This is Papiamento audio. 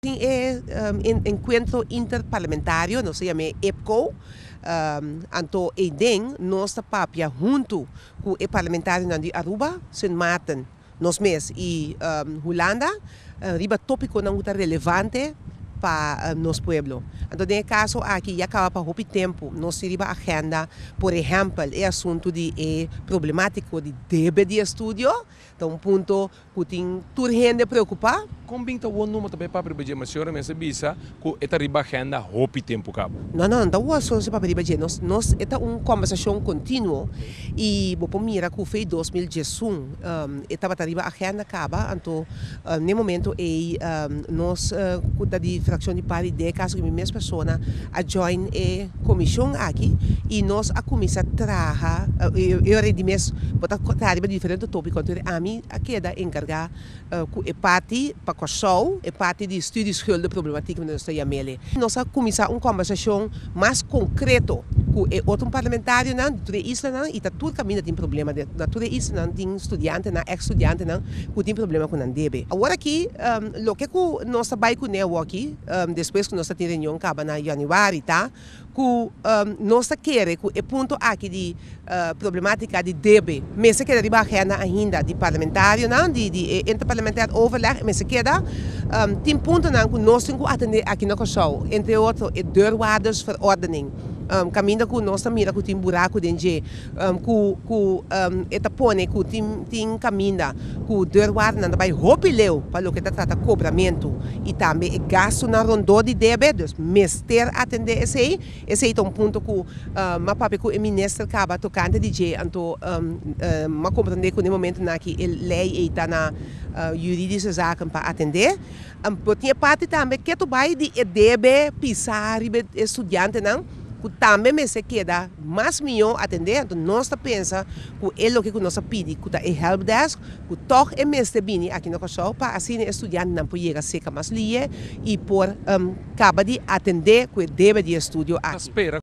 Tin e Encuentro Interparlamentario, nos ta yam'e EPCO, anto eyden nos ta papia huntu cu e Parlamentarionan di Aruba, Sint Maarten, nos mes y Hulanda riba topiconan cu ta relevante pa nos pueblo. Anto den e caso aki ya caba pa hopi tempo nos tin riba agenda, por ehempel, e asunto di e problematico di debe di estudio, ta un punto. Ku tin tur hende preokupá. Kon bin ta wòr number ta bay papri riba dje? Ma señora mester bisa ku e ta riba agenda hopi tempu kaba. No, no, no ta wòr sosi papri riba dje. Nos, nos, e ta un kòmbersashon kontinuo i bo por mira ku fei dos mil djesun e tabata riba agenda kaba. Anto n'e momento ei nos ku ta di frakshon di par di deka, aso ku mi mes persona a join e. Comishon aki y nos a cuminsa traha, yo a ready mes bo ta traha riba diferente topico anto ami a keda encarga cu e parti pa Kòrsou, e parti di stuur di schulden problematiek nan nos ta yamele. Nos a cuminsa un conversacion mas concreto cu e otro parlamentarionan di tur e islanan y ta tur caminda tin problema den, na tur e islanan tin studiantenan, ex studiantenan cu tin problema cu nan debe. Awor aki loke cu nos ta bay cun'e awoki. despues ku nos ta tin reunion kaba na Januari ta ku nos ta kere ku e punto aki di problematica di debe mester keda riba agenda ainda di parlamentarionan di e interparlamentair overleg mester keda tin puntonan ku nos tin ku atende aki na Kòrsou entre otro e deurwaardersverordening kaminda ku nos ta mira ku tin buraku den dje. ku ku e ta pone ku tin tin kaminda ku deurwaardennan ta bai hopi leu pa loke ta trata kobramentu i tambe e gastunan rondó di debe, dus mester atendé esei, esei ta un punto ku m'a papia ku e minister kaba tokante di dje anto m'a komprendé ku den e momentunan aki e lei ei ta na Juridiche Zaken pa atendé, por tin e parti tambe ke tu bai di e debe pisá riba e studiantenan. ku tambe mester keda mas mihó atendé, anto nos ta pensa ku e loke ku nos a pidi ku ta e helpdesk ku tòg e mester bini aki na Kòrsou pa asina e studiantenan por yega serka mas lihe i por kaba di atendé ku e debe di e estudio aki.